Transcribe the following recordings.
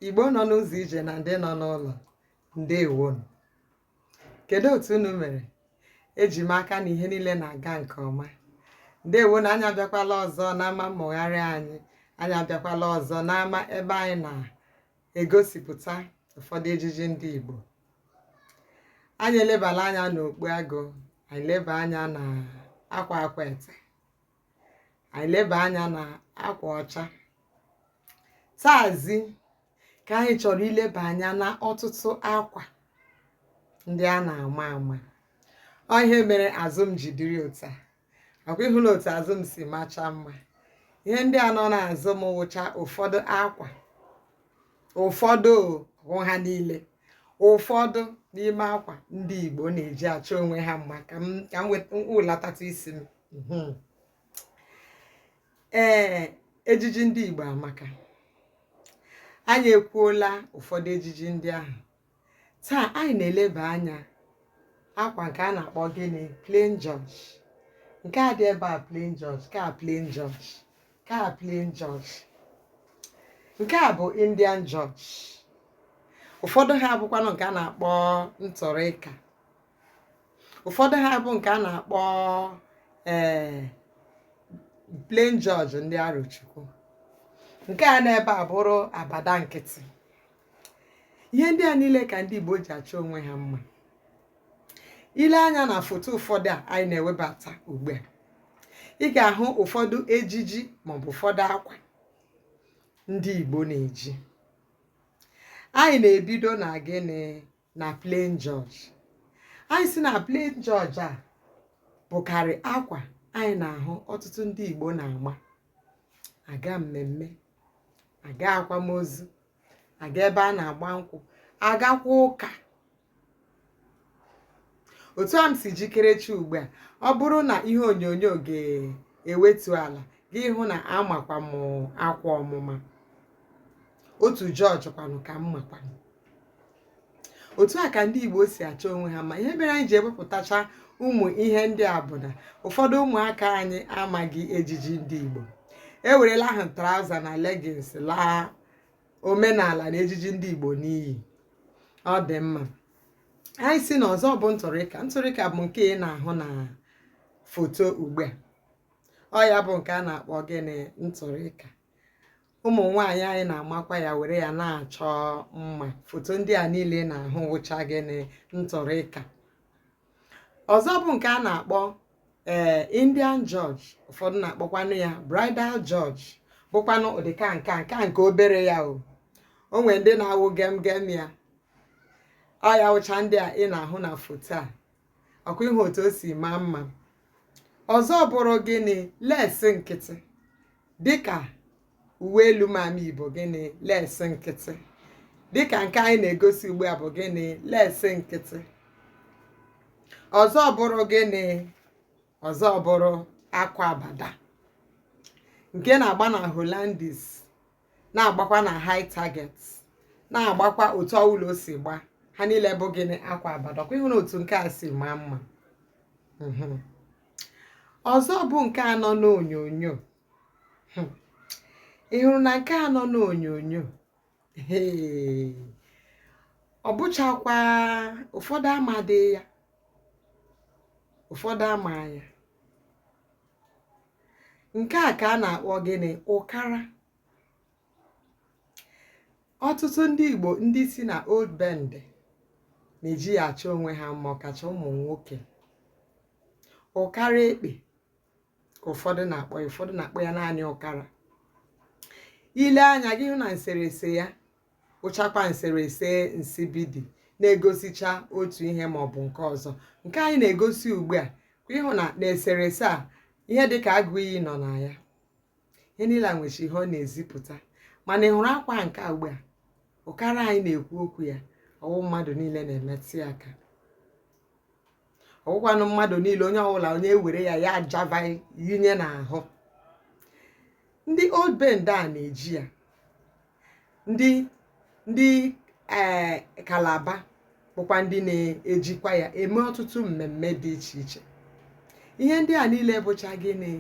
igbo nọ n'ụzọ ije na ndị nọ n'ụlọ ndewonu kedu otu unu mere eji m aka na ihe niile na-aga nke ọma ndewonu anyị abịakwala ọzọ n'ama mmụgharị anyị anyị abịakwala ọzọ n'ama ebe anyị na-egosipụta ụfọdụ ejiji ndị Igbo anyị elebala anya n'okpu agụ anyị leba anya na akwa Akwete anyị leba anya na akwa ọcha taazi ka anyị chọrọ ileba anya na ọtụtụ akwa ndị a na-ama ama ọ ihe mere azụ m ji dịrị otu a ọ kwa ị hụla otu azụ m si macha mma ihe ndị a nọ n'azụ m wụcha ụfọdụ akwa ụfọdụ o, ọ bụghị ha niile ụfọdụ n'ime akwa ndị Igbo na-eji achọ onwe ha mma ka m ka m welatatụ isi m mhm. ee ejiji ndị Igbo amaka anyị ekwuola ụfọdụ ejiji ndị ahụ taa anyị na-eleba anya akwa nke a na-akpọ gịnị plain George nke a dị ebe a plain George nke a plain George nke a plain George nke a bụ indian George ụfọdụ ha bụkwanụ nke a na-akpọ intorica ụfọdụ ha bụ nke a na-akpọ ee eh, plain George ndị arochukwu nke a n'ebe a bụrụ abada nkịtị ihe ndị a niile ka ndị igbo ji achọ onwe ha mma i lee anya na foto ụfọdụ a anyị na-ewebata ugbu a ị ga-ahụ ụfọdụ ejiji maọbụ ụfọdụ akwa ndị Igbo na-eji anyị na-ebido na gịnị na plain George anyị sị na plain George a bụkarị akwa anyị na-ahụ ọtụtụ ndị Igbo na-agba aga mmemme aga akwamozu aga ebe a na-agba nkwụ agakwa ụka otu a m si jikerechi ugbu a ọ bụrụ na ihe onyonyo ga-ewetu ala gị hụ na amakwa m akwa ọmụma otu George kwanụ ka m makwanụ otu a ka ndị Igbo si achọ onwe ha ma ihe mere anyị ji ewepụtacha ụmụ ihe ndị a bụ na ụfọdụ ụmụaka anyị amaghị ejiji ndị Igbo ewerela ahụ traụza na legins laa omenala na ejiji ndị Igbo n'iyi ọ dị mma anyị sị na ọzọ bụ ntụrịka ntụrịka bụ nke ị na-ahụ na foto ugbu a ọ ya bụ nke a na-akpọ gịnị ntụrịka ụmụ nwaanyị anyị na-amakwa ya were ya na-achọ mma foto ndị a niile ị na-ahụ wụcha gịnị ntụrịka ọzọ bụ nke a na-akpọ ee eh, indian george ụfọdụ na-akpọkwanụ ya bridal george bụkwanụ ụdịka nka nka nke obere ya o o nwere ndị na-awụ gem gem ya ọ ya wụcha ndị a ị na-ahụ na foto a ọkwa ị hụ otu o si maa mma ọzọ bụrụ gịnị lesị nkịtị dịka uwe elu mama yi bụ gịnị lesị nkịtị dịka nke anyị na-egosi ugbu a bụ gịnị lesị nkịtị ọzọ bụrụ gịnị ọzọ bụrụ akwa abada nke na-agba na hollandis na-agbakwa na high target na-agbakwa otu ọwụla o si gba ha niile bụ gịnị akwa abada ọkwa ị hụrụ otu nke a si maa mma mhm. ọzọ bụ nke a nọ n'onyonyo hmm. ị hụrụ na nke a nọ n'onyonyo ọ bụchakwa ụfọdụ amadị ya ụfọdụ ama ya nke a ka a na-akpọ gịnị ụkara ọtụtụ ndị Igbo ndị si na old bende na-eji ya achọ onwe ha mma ọkacha ụmụ nwoke ụkara ekpe ka ụfọdụ na-akpọ ya ụfọdụ na-akpọ ya naanị ụkara i lee anya gị hụ na nserese ya wụchakwa nserese nsibidi na-egosicha otu ihe ma ọ bụ nke ọzọ nke anyị na-egosi ugbu a ị hụ na n'eserese a ihe dị ka agụ iyi nọ na ya ihe niile a nwecha ihe ọ na-ezipụta mana ị hụrụ akwa nke a ugbu a ụkara anyị na-ekwu okwu ya ọ wụ mmadụ niile na-emetụ ya aka ọ wụkwanụ mmadụ niile onye ọbụla onye ewere ya ya ajava yinye n'ahụ ndị old bende na-eji ya ndị ndị ee eh, kalaba bụkwa ndị na-ejikwa ya eme ọtụtụ mmemme dị iche iche ihe ndị a niile bụcha gịnị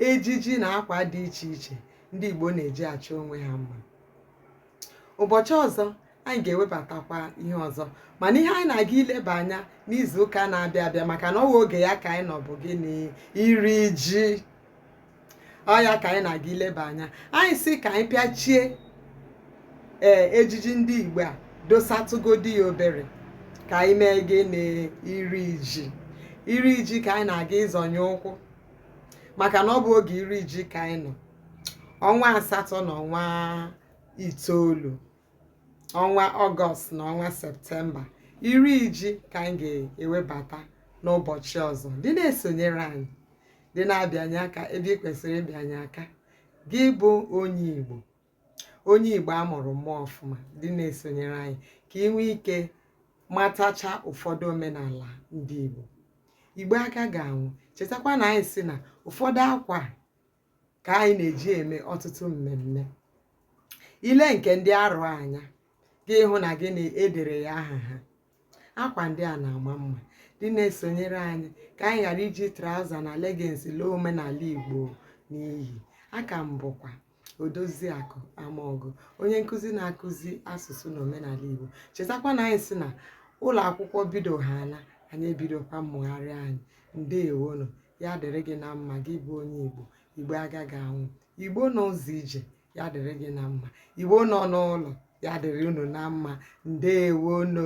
ejiji na akwa dị iche iche ndị Igbo na-eji achọ onwe ha mma ụbọchị ọzọ anyị ga-ewebatakwa ihe ọzọ mana ihe anyị na-aga ileba anya n'izu ụka na-abịa abịa maka na ọ bụ oge ya ka anyị nọ bụ gịnị iri ji ọ ya ka anyị na-aga ileba anya anyị sị ka anyị pịachie ee ejiji ndị igbo a dosatụgodi ya obere ka anyị mee gịnị iri ji iri ji ka anyị na-aga ịzọnye ụkwụ maka na ọ bụ oge iri ji ka anyị nọ ọnwa asatọ na ọnwa itoolu ọnwa ọgọst na ọnwa septemba iri ji ka anyị ga-ewebata n'ụbọchị ọzọ dị na-esonyere anyị dị na-abịanye aka ebe ị kwesịrị ịbịanye aka gị bụ onye igbo onye igbo a mụrụ mụọ ọfụma dị na-esonyere anyị ka ị nwee ike matacha ụfọdụ omenala ndị igbo igbo agaghị anwụ chetakwa na anyị sị na ụfọdụ akwa ka anyị na-eji eme ọtụtụ mmemme i lee nke ndị arọ anya gị hụ na gịnị e dere ya aha ha akwa ndị a na-ama mma dị na-esonyere anyị ka anyị ghara iji traụza na leggings laa omenala igbo n'iyi a ka m bụkwa odoziakụ amaọgụ onye nkụzi na-akụzi asụsụ na omenala igbo chetakwa na anyị sị na ụlọ akwụkwọ bido ha na anyị ebidokwa mmụgharị anyị ndewonụ ya dịrị gị na mma gị bụ onye igbo igbo agaghị anwụ igbo nọ ụzọ ije ya dịrị gị na mma igbo nọ n'ụlọ ya dịrị unu na mma ndewonu